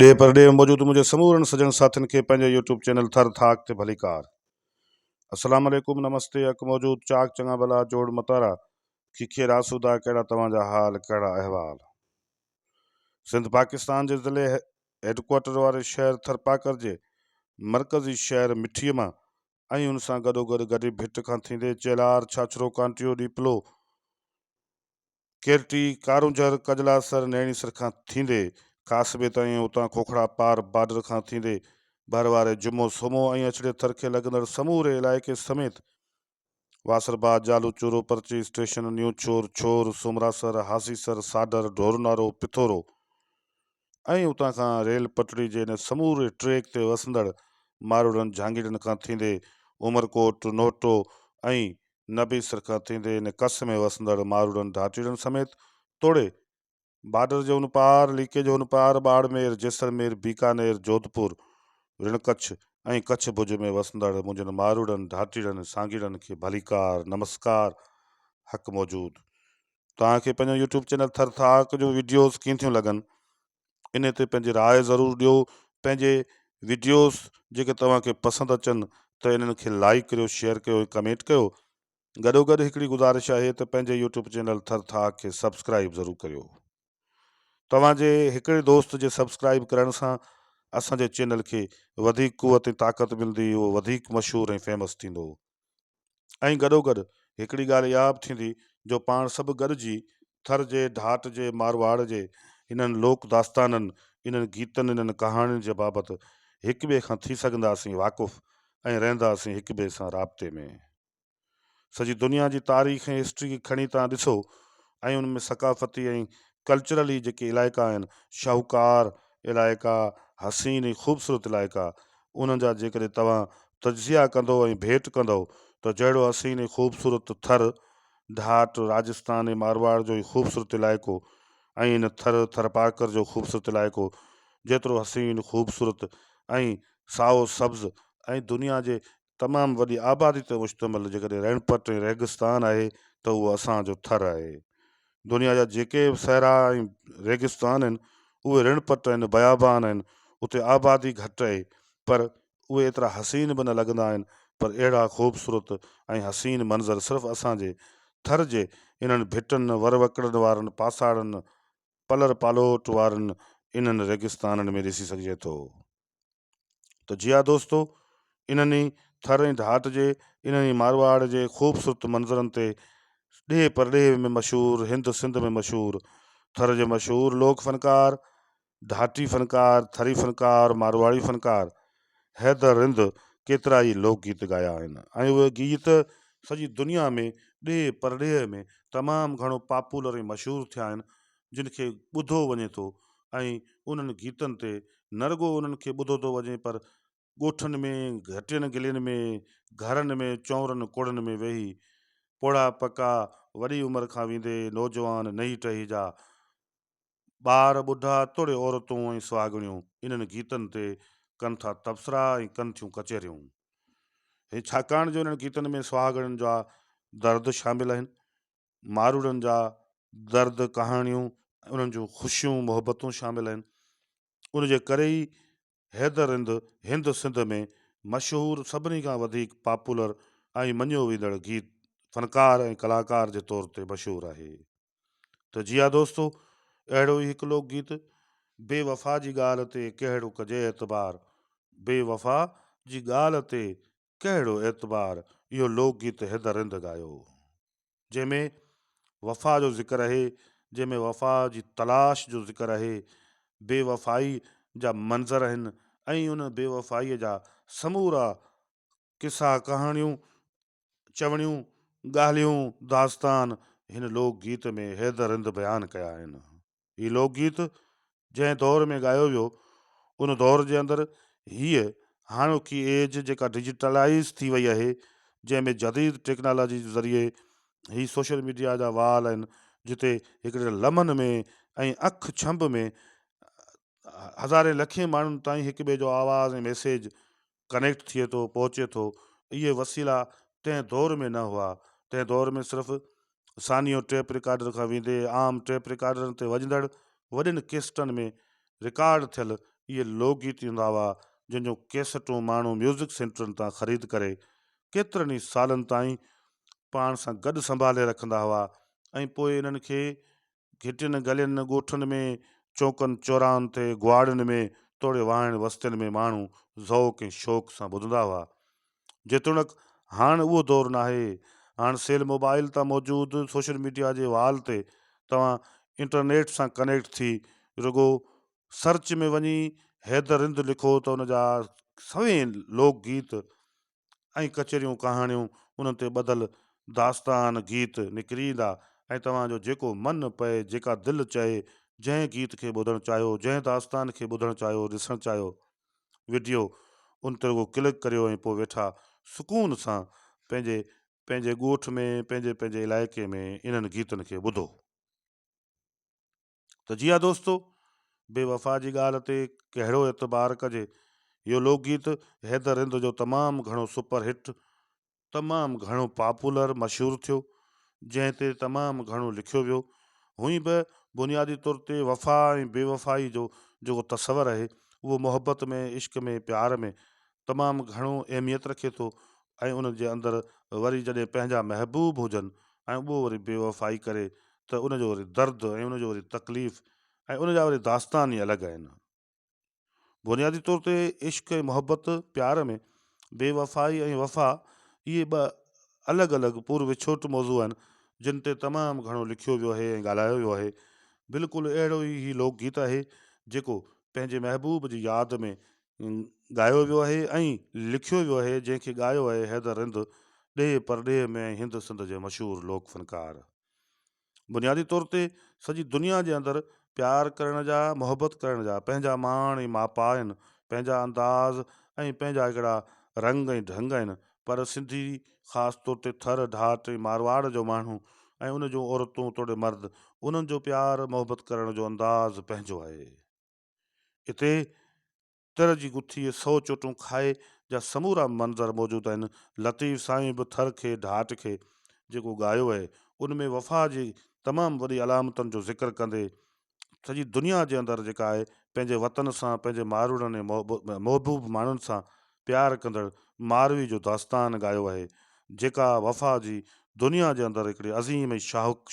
ڏيهه پرڏيهه ۾ موجود منهنجي سمورن سڄڻ ساٿين کي پنهنجي يوٽيوب چينل ٿر ٿاڪ تي ڀليڪار السلام عليڪم نمستي اک موجود چاڪ چڱا ڀلا جوڙ متارا کيکير آسودا ڪهڙا توهان جا حال ڪهڙا احوال سنڌ پاڪستان جي ضلعي هيڊڪوارٽر واري شهر ٿرپاڪر جي مرڪزي شهر مٺي مان ۽ ان سان گڏو گڏ گڏي ڀٽ کان ٿيندي چيلار ڇاڇرو ڪانٽيو ڏيپلو ڪيرٽي، ڪارونجهر، ڪجلاسر، نيڻي سر کان ٿيندي ڪاسبي تائين ۽ اتان کوکڙا پار بارڊر کان ٿيندي ڀر واري جمو سومو ۽ اڇڙي ٿر کي لڳندڙ سموري علائقي سميت واصرباد، جالو چورو، پرچي اسٽيشن، نيوڇور، ڇور، سومراسر، هاسيسر، ساڊر، ڍورنارو، پٿورو، ۽ اتان کان ريل پٽڙي جي ان سموري ٽريڪ تي وسندڙ ماروئڙن جھانگيرن کان ٿيندي عمرڪوٽ، نوٽو ۽ نبيسر کان ٿيندي ان ڪس ۾ وسندڙ ماروئڙن ڌاٽيڙن سميت توڙي بارڊر جي ان پار، ليڪي جي ان پار، ٻاڙمير، جيسلمير، بيڪانير، جوڌپور، رڻڪڇ ۽ ڪڇ ڀڄ ۾ وسندڙ منھنجن ماروئڙن ڌاٽيڙن سانگيئڙن کي ڀليڪار، نمسڪار، حق موجود. توهان کي پنهنجو يوٽيوب چينل ٿر ٿاڪ جو ويڊيوز ڪيئن ٿيون لڳن ان تي پنهنجي راء ضرور ڏيو پنهنجي ويڊيوز جيڪي توهان کي پسند اچن ته انهن کي لائڪ ڪريو شيئر ڪيو ۽ ڪمينٽ ڪيو گڏو گڏ هڪڙي گذارش آهي ته پنهنجي يوٽيوب چينل ٿر ٿاڪ کي سبسڪرائب ضرور ڪريو توهان جي هڪڙي دوست جي سبسڪرائب ڪرڻ سان اسان جي چينل کي وڌيڪ قوت ۽ طاقت ملندي اهو وڌيڪ مشهور ۽ فيمس ٿيندو ۽ گڏوگڏ هڪڙي ڳالهه اها به ٿيندي جو پاڻ سڀ گڏجي ٿر جي ڍاٽ جي مارواڙ جي انهن لوڪ داستانن، انهن گيتن، انهن ڪهاڻين جي بابت هڪ ٻئي کان ٿي سگهنداسين واقف ۽ رهنداسين هڪ ٻئي سان رابطي ۾. سڄي دنيا جي تاريخ ۽ هسٽري کي کڻي توهان ڏسو ۽ ان ۾ ثقافتي ۽ ڪلچرلي جيڪي علائقا آهن، شاهوڪار علائقا، حسين ۽ خوبصورت علائقا، انهن جا جيڪڏهن توهان تجزيا ڪندؤ ۽ ڀيٽ ڪندؤ ته جهڙو حسين ۽ خوبصورت ٿر، ڍاٽ، راجستان ۽ مارواڙ جو هي خوبصورت علائقو ۽ ان ٿر، ٿرپارڪر جو خوبصورت علائقو جيترو حسين، خوبصورت ۽ سائو سبز ۽ دنيا جي تمام وڏي آبادي تي مشتمل جيڪڏهن رڻپٽ ۽ ريگستان آهي ته اهو اسان جو ٿر آهي. دنيا جا جيڪي به صحرا ۽ ريگستان آهن، اهي رڻ پٽ ۽ بيابان آهن، اتي آبادي گهٽ آهي، پر اهي ايترا حسين به نه لڳندا آهن، پر اهڙا خوبصورت ۽ حسين منظر صرف اسان جي ٿر جي انهن ڀٽن، وروڪڙن وارن پاساڙن، پلر پالوٽ وارن انهن ريگستانن ۾ ڏسي سگهجي ٿو. ته جي ها دوستو انهن ئي ٿر ۽ ڌات جي انهن ئي مارواڙ جي خوبصورت منظرن تي ڏيهه پرڏيهه ۾ مشهور هند سنڌ ۾ مشهور ٿر جي مشهور لوڪ فنڪار ڌاتي فنڪار ٿري فنڪار مارواڙي فنڪار حيدر رند ڪيترا ئي لوڪ گيت ڳايا آهن ۽ اهي گيت سڄي دنيا ۾ ڏيهه پرڏيهه ۾ تمام گهڻو پاپولر ۽ مشهور ٿيا آهن جن کي ٻڌو وڃي ٿو ۽ انهن گيتن تي نه رڳو انهن کي ٻڌو ٿو وڃي پر ڳوٺن ۾ گهٽين گلين ۾ گهرن ۾ چؤرن ڪوڙن ۾ ويهي پوڙها پڪا وڏي عمر کان ويندي نوجوان نئي ٽهي جا ٻار ٻڍا توڙي عورتون ۽ سهاڳڻيون انهن گيتن تي ڪن ٿا تبصرا ۽ ڪن ٿيون ڪچهريون ڇاڪاڻ جو انهن گيتن ۾ سهاڳڻين جا درد شامل آهن ماروئڙن جا درد ڪهاڻيون ۽ انهن جون خوشيون محبتون شامل آهن. ان جي ڪري ئي حيدر رند هند سنڌ ۾ مشهور سڀني کان وڌيڪ پاپولر ۽ مڃيو ويندڙ گيت فنڪار ۽ ڪلاڪار جي طور تي مشهور آهي. ته جي ها دوستو اهڙو ئي هڪ لوڪ گيت بي وفا جي ڳالهه تي ڪهڙو ڪجي اعتبار بي وفا جي ڳالهه تي ڪهڙو اعتبار اهو لوڪ گيت حيدر رند ڳايو هو جنهن ۾ وفا جو ذڪر اهي جنهن ۾ وفا جي تلاش جو ذڪر اهي بي وفائي جا منظر اهن ۽ ان بي وفائي جا سمورا قصا ڪهاڻيون چوڻيون ڳالهيون داستان هن لوڪ گيت ۾ حيدر رند بيان ڪيا آهن هي لوڪ گيت جنهن دور ۾ ڳايو ويو ان دور جي اندر هيء هاڻوڪي ايج جيڪا ڊجيٽلائيز ٿي وئي آهي جنهن ۾ جديد ٽيڪنالاجي جي ذريعي هي سوشل ميڊيا جا وال آهن جتي هڪڙي لمحن ۾ ۽ اک ڇنڀ ۾ هزارين لکين ماڻهن تائين هڪ ٻئي جو آواز ۽ ميسيج ڪنيڪٽ ٿئي ٿو پهچي ٿو اهي وسيلا تنهن دور ۾ نه هئا تنهن دور ۾ صرف ثانيو ٽيپ رڪارڊر کان ويندي عام ٽيپ رڪارڊرن تي وڄندڙ وڏين ڪيسٽن ۾ رڪارڊ ٿيل اهي لوڪ گيت هوندا هئا جن جون ڪيسٽون ماڻهو ميوزڪ سينٽرن تان خريد ڪري ڪيترن ئي سالن تائين پاڻ سان گڏ سنڀالي رکندا هئا ۽ پوء انهن کي گهٽين گلين ڳوٺن ۾، چونڪن چوراهن تي، گهواڙين ۾ توڙي واهڻ وستين ۾ ماڻهو ذوق ۽ شوق سان ٻڌندا هئا. جيتوڻيڪ هاڻ اهو دور ناهي. هاڻ سيل موبائيل تان موجود سوشل ميڊيا جي وال تي توهان انٽرنيٽ سان ڪنيڪٽ ٿي رڳو سرچ ۾ وڃي حيدر رند لکو ته ان جا سوين لوڪ گيت ۽ ڪچريون ڪهاڻيون انهن تي ٻڌل داستان گيت نڪري ايندا ۽ توهان جو جيڪو من پئي جيڪا دل چهي جنهن گيت کي ٻڌڻ چاهيو جنهن داستان کي ٻڌڻ چاهيو ڏسڻ چاهيو وڊيو ان تي رڳو ڪلڪ ڪريو ۽ پوء ويٺا سڪون سان پنهنجي پنهنجي ڳوٺ ۾ پنهنجي پنهنجي علائقي ۾ انهن گيتن کي ٻڌو. ته جي ها دوستو! بي وفا جي ڳالهه تي ڪهڙو اعتبار ڪجي. اهو لوڪ گيت حيدر رند جو تمام گهڻو سپر هٽ، تمام گهڻو پاپولر، مشهور ٿيو، جنهن تي تمام گهڻو لکيو ويو. هونئن به بنيادي طور تي وفا ۽ بي وفائي جو جيڪو تصور اهي، اهو محبت ۾، عشق ۾، پيار ۾، تمام گهڻو اهميت رکي ٿو ۽ ان جي اندر وري جڏهن پنهنجا محبوب هجن ۽ اهو وري بيوفائي ڪري ته ان جو وري درد ۽ ان جو وري تڪليف ۽ ان جا وري داستان ئي الڳ آهن. بنيادي طور تي عشق ۽ محبت پيار ۾ بيوفائي ۽ وفا اهي ٻه الڳ الڳ پور وڇوٽ موضوع آهن جن تي تمام گهڻو لکيو ويو آهي ۽ ڳالهايو ويو آهي. بلڪل اهڙو ئي هي لوڪ گيت آهي جيڪو پنهنجي محبوب جي ياد ۾ ڳايو ويو آهي ۽ لکيو ويو آهي جنهن کي ڳايو آهي حيدر رند ڏيهه پرڏيهه ۾ ۽ هند سنڌ جي مشهور لوڪ فنڪار. بنيادي طور تي سڄي دنيا جي اندر پيار ڪرڻ جا محبت ڪرڻ جا پنهنجا مان ۽ ماپا آهن پنهنجا انداز ۽ پنهنجا هڪڙا رنگ ۽ ڍنگ آهن پر سنڌي خاص طور تي ٿر ڍاٽ ۽ مارواڙ جو ماڻهو ۽ ان جون عورتون توڙي مرد انهن جو پيار محبت ڪرڻ جو انداز پنهنجو آهي. اتي تر جي گٿيء سؤ چوٽون کائي جا سمورا منظر موجود آهن. لطيف سائين به ٿر کي ڍاٽ کي جيڪو ڳايو آهي ان ۾ وفا جي تمام وڏي علامتن جو ذڪر ڪندي سڄي دنيا جي اندر جيڪا آهي پنهنجي وطن سان پنهنجي ماروئڙن ۽ محبوب ماڻهن سان پيار ڪندڙ ماروي جو داستان ڳايو آهي جيڪا وفا جي دنيا جي اندر هڪڙي عظيم ۽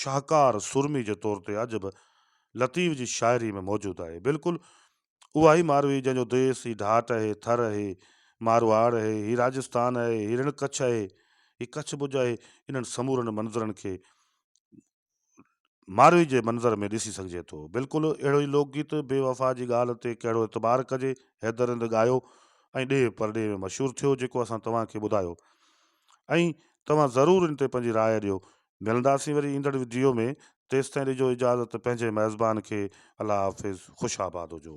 شاهڪار سورمي جي طور تي اڄ به لطيف جي شاعري ۾ موجود آهي. بلڪل اها هي ماروي جنهن جو ديس هي ڍاٽ اهي، ٿر اهي، مارواڙ اهي، هي راجستان اهي، هي رڻ ڪڇ اهي، هي ڪڇ ڀڄ اهي، انهن سمورن منظرن کي ماروي جي منظر ۾ ڏسي سگهجي ٿو. بلڪل اهڙو ئي لوڪ گيت بي وفا جي ڳالهه تي ڪهڙو اعتبار ڪجي حيدر رند ڳايو ۽ ڏيهه پرڏيهه ۾ مشهور ٿيو جيڪو اسان توهان کي ٻڌايو ۽ توهان ضرور ان تي پنهنجي راء ڏيو ملنداسين وري ايندڙ وڊيو ۾ تيستائين ڏجو اجازت پنهنجي ميزبان کي الله حافظ خوش آباد هجو.